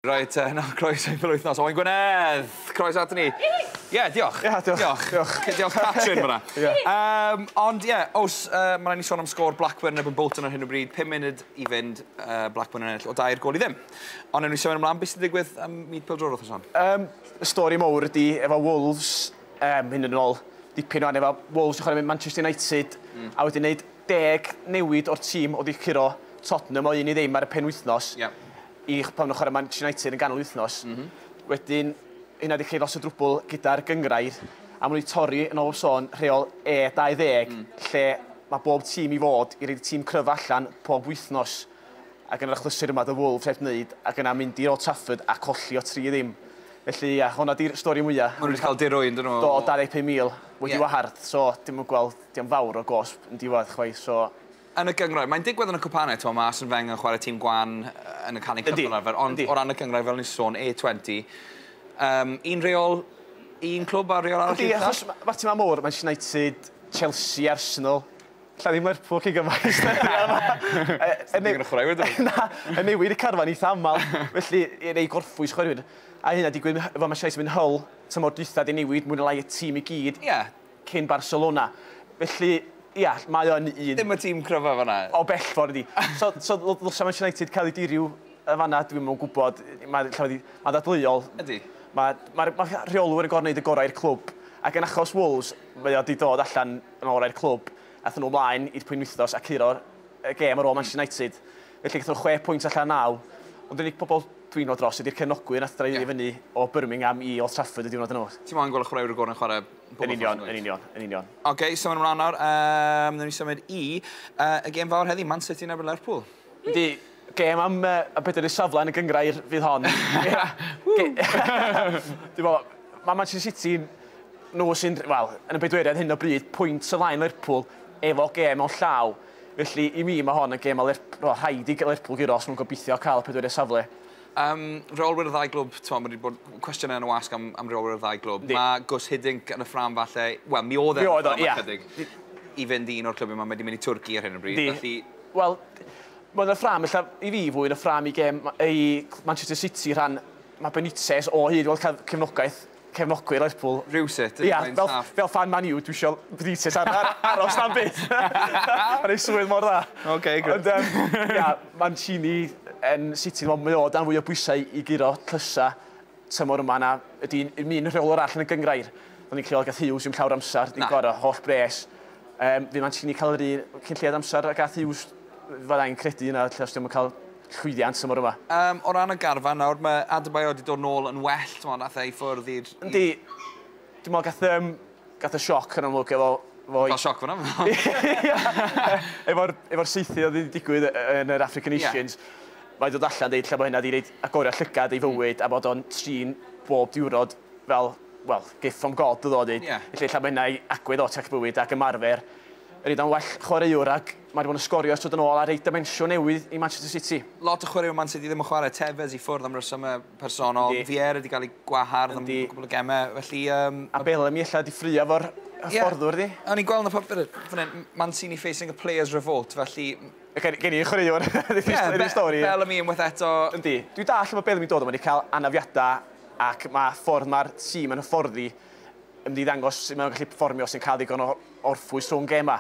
Reit, uh, na, croeso i'n wythnos. Owain Gwynedd, croeso at ni. Ie, yeah, diolch. Ie, yeah, diolch. Diolch. diolch. Cyd diolch Catrin fyna. yeah. um, ond ie, yeah, os uh, mae'n ni sôn am sgôr Blackburn neb yn Bolton ar hyn o bryd, 5 munud i fynd uh, Blackburn yn ennill o dair gol i ddim. Ond ewn ni sôn ymlaen, beth sy'n digwydd am myd pildror wrth ysam? Um, y stori mowr ydy efo Wolves, um, hyn yn ôl, dipyn o'n efo Wolves yn chwarae mynd Manchester United, mm. a wedyn wneud deg newid o'r tîm o ddichuro Tottenham o un i ddim ar y penwythnos. Yeah. i pan nhw'n chwarae Manchester United yn ganol wythnos. Mm -hmm. Wedyn, hynna wedi creu lot o drwbl gyda'r gyngrair, a maen nhw wedi torri yn ôl o sôn rheol E20, mm. lle mae bob tîm i fod i reid tîm cryf allan pob wythnos. Ac yn yr achlysur yma, dy Wolves heb wneud, ac yna mynd i Old Trafford a colli o tri ddim. Felly, ia, hwnna di'r stori mwyaf. Mae nhw'n cael dirwyn, dyn nhw. Do, 25,000 wedi yeah. wahardd, so dim yn gweld, dim fawr o gosb yn diwedd chwaith, so Yn y gynghrair, mae'n digwydd yn y cwpanau, timod, mae Arsene Wenger yn chwarae tîm gwan yn y Carling Cup fel arfer, ond o ran y gynghrair, fel o'n i'n sôn, A20, um, un reol, un clwb a reol arall Ydy, achos mae'r tîmau mawr, Manchester United, Chelsea, Arsenal, lle ddim Lerpwl chi gymaint. Yn newid y chwaraewyr dwi. Na, yn newid y carfan eitha aml, felly i rei gorffwys chwaraewyr. A hynna digwydd efo Manchester United mynd Hull, tymor dwytha di newid mwy na lai y tîm i gyd. Ie, cyn Barcelona. Felly, ia, mae o yn un... Dim y tîm cryfaf yna. O bell ffordd ydi. So, so ddylsa Manchester United cael ei diriw yn fanna, dwi'm yn gwybod. Mae llaw wedi... Mae'n ddadleuol. Ydy. Mae, mae'r, mae'r rheolwyr yn gorfod gwneud y gorau i'r clwb. Ac yn achos Wolves, mae o wedi dod allan yn ôl orau'r clwb. Aethon nhw ymlaen i'r pwynwythnos a curo'r y gêm ar ôl Manchester United. Felly gaethon nhw chwe pwynt allan naw. Ond yr unig pobl dwi'n ôl dros ydy'r cefnogwyr nath dreiddio yeah. fyny o Birmingham i Old Trafford y diwrnod yn ôl. Ti'n moyn gweld y chwaraewr y gorau'n chwarae Yn union, yn union, yn union. Oce, okay, symud ymlaen nawr. Um, Nw'n ni symud i uh, y gêm fawr heddi, Man City yn erbyn Lerpwl. Ydy, gêm am uh, y bedair y safle yn y gyngrair fydd hon. Dwi'n meddwl, mae Manchester City nhw sy'n, wel, yn y bedweiriad hyn o bryd, pwynt y lain Lerpwl efo gêm o'n llaw. Felly, i mi, mae hon yn gêm a Lerpwl, rhaid i Lerpwl gyros, nhw'n gobeithio cael y pedweiriad safle. Yym, rheolwyr y ddau glwb, t'mo' ma' 'di bod cwestiyne yn y wasg am am reolwyr y ddau glwb. Yndi. Ma' Guus Hiddink yn y ffrâm falle, wel mi o'dd e yn y ffrâm... Mi oedd o, ia. ...ychydig, i fynd i un o'r clybiau 'ma, mae 'di mynd i Twrci ar hyn o bryd, felly... Yndi, wel, ma' yn y ffrâm ella, i fi fwy yn y ffrâm i gêm ma- i Manchester City rhan, ma' Benitez o hyd, wel cael cefnogaeth, cefnogwyr Lerpwl. Rhywsut, yn rhaid staff. Fel fan Man U, dwi isio Benitez aros na'n byd. Mae'n ei swydd mor dda. OK, good. Ond, ia, Mancini yn City, mae o dan fwy o bwysau i guro tlysa tymor yma na ydy un un rheolwr all yn y gyngrair. Do'n ni'n creol gath Hughes i'm llawr amser, di'n gorau, holl bres. Um, fi Mancini cael yr un cyn lleiad amser a gath Hughes, fyddai'n credu yna, lle os diwm yn cael llwyddiant tymor yma. Yym, o ran y garfan nawr, mae Adebayor 'di dod nôl yn well, t'mod, nath e i ffwrdd i'r... Yndi. Dwi me'wl gath yym gath e sioc yn amlwg efo fo i... Ca'l sioc fan 'na? Efo'r efo'r saethu o'dd 'di digwydd yy yy yn yr African Nations. Ie. Mae 'di dod allan deud 'lle bo' hynna 'di roid agored llygad ei fywyd a bod o'n trin bob diwrnod fel, wel, gift from God odd o 'di deud. Ie. Felly ella ma' hynna i agwedd o tech bywyd ac ymarfer. Ydi o'n well chwaraewr ag Mae wedi bod yn sgorio ers dod yn ôl a rhoi dimensiwn newydd i Manchester City. Lot o chwaraewyr Man City ddim yn chwarae, Tevez i ffwrdd am resymau personol, Yndi. Vieira wedi cael ei gwahardd am Yndi. gwbl o gemau, felly yym... A Bellamy ella wedi ffraeo efo'r hyfforddwr ydi? Ie, o'n i'n gweld yn y papur fan hyn, Mancini facing a players revolt, felly... Gen, gen i chwaraewr yn y stori. Bellamy unwaith eto. Yndi. Dwi'n dallt lle mae Bellamy dod o, mae wedi cael anafiadau ac mae ffordd mae'r tîm yn hyfforddi ymddidangos sut mae nhw'n gallu perfformio sy'n cael ddigon o orffwys rhwng gemau.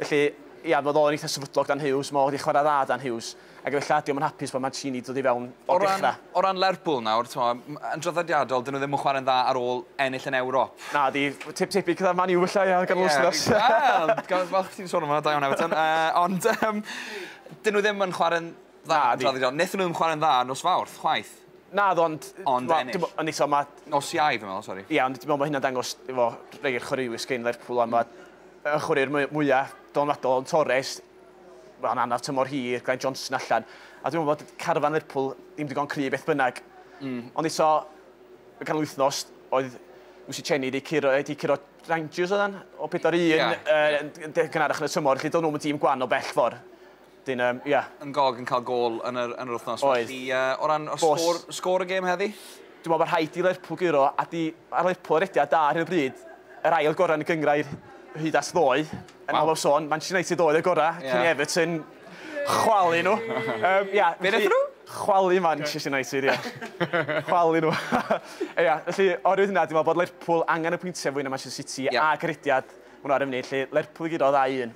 Felly, ia, oedd o'n eitha sefydlog dan Hughes, mae o wedi chwarae dda dan Hughes, ac efallai ydy o'm yn hapus bod Mancini wedi dod i fewn o'r dechrau. O ran Lerpwl nawr, yn draddodiadol, dyn nhw ddim yn chwarae'n dda ar ôl ennill yn Ewrop. Na, di, tip tebyg gyda'r Man U efallai, ia, gan wythnos. Wel, gan falch ti'n sôn am hwnna, da iawn Everton. Ond, dyn nhw ddim yn chwarae'n dda yn draddodiadol. Nethon nhw ddim chwarae'n dda nos Fawrth, chwaith. Naddo, ond... Ond ennill. Ond eto mae... Nos Iau, fi'n meddwl, sori. Ie, ond dwi'n meddwl bod hynna'n dangos efo rhai o'r chwaraewyr sgyn Lerpwl a mae y chwaraewyr mwyaf dylanwadol yn Torres, mae'n anaf tymor hir, Glenn Johnson allan. A dwi'n meddwl bod carfan Lerpwl ddim digon cry beth bynnag. Mm. Ond eto, y canol wythnos, oedd Lucy Chenny wedi curo, wedi curo Rangers oedd o 4-1 yeah. uh, gynharach yn y tymor, felly doedd nhw'n tîm gwan o bell ffordd. Wedyn yym ia. Yn gog yn cael gôl yn yr yn yr wythnos. Oedd. Felly yy o ran y sgôr sgôr y gêm heddi? Dwi'n meddwl bod rhaid i Lerpwl guro a 'di a Lerpwl y rediad da ar hyn o bryd. Yr ail gorau yn y gynghrair hyd at ddoe. Yn Waw. olaf sôn Manchester United oedd y gorau. Ie. Cyn i Everton chwalu nhw. Yym ia. Be' nethon nhw? Chwalu Manchester United ia. Chwalu nhw. Ia felly oherwydd hynna dwi'n meddwl bod Lerpwl angen y pwyntiau fwy na Manchester City Ia. ac y rediad ma' nhw ar y funud 'lly. Lerpwl i guro dau un.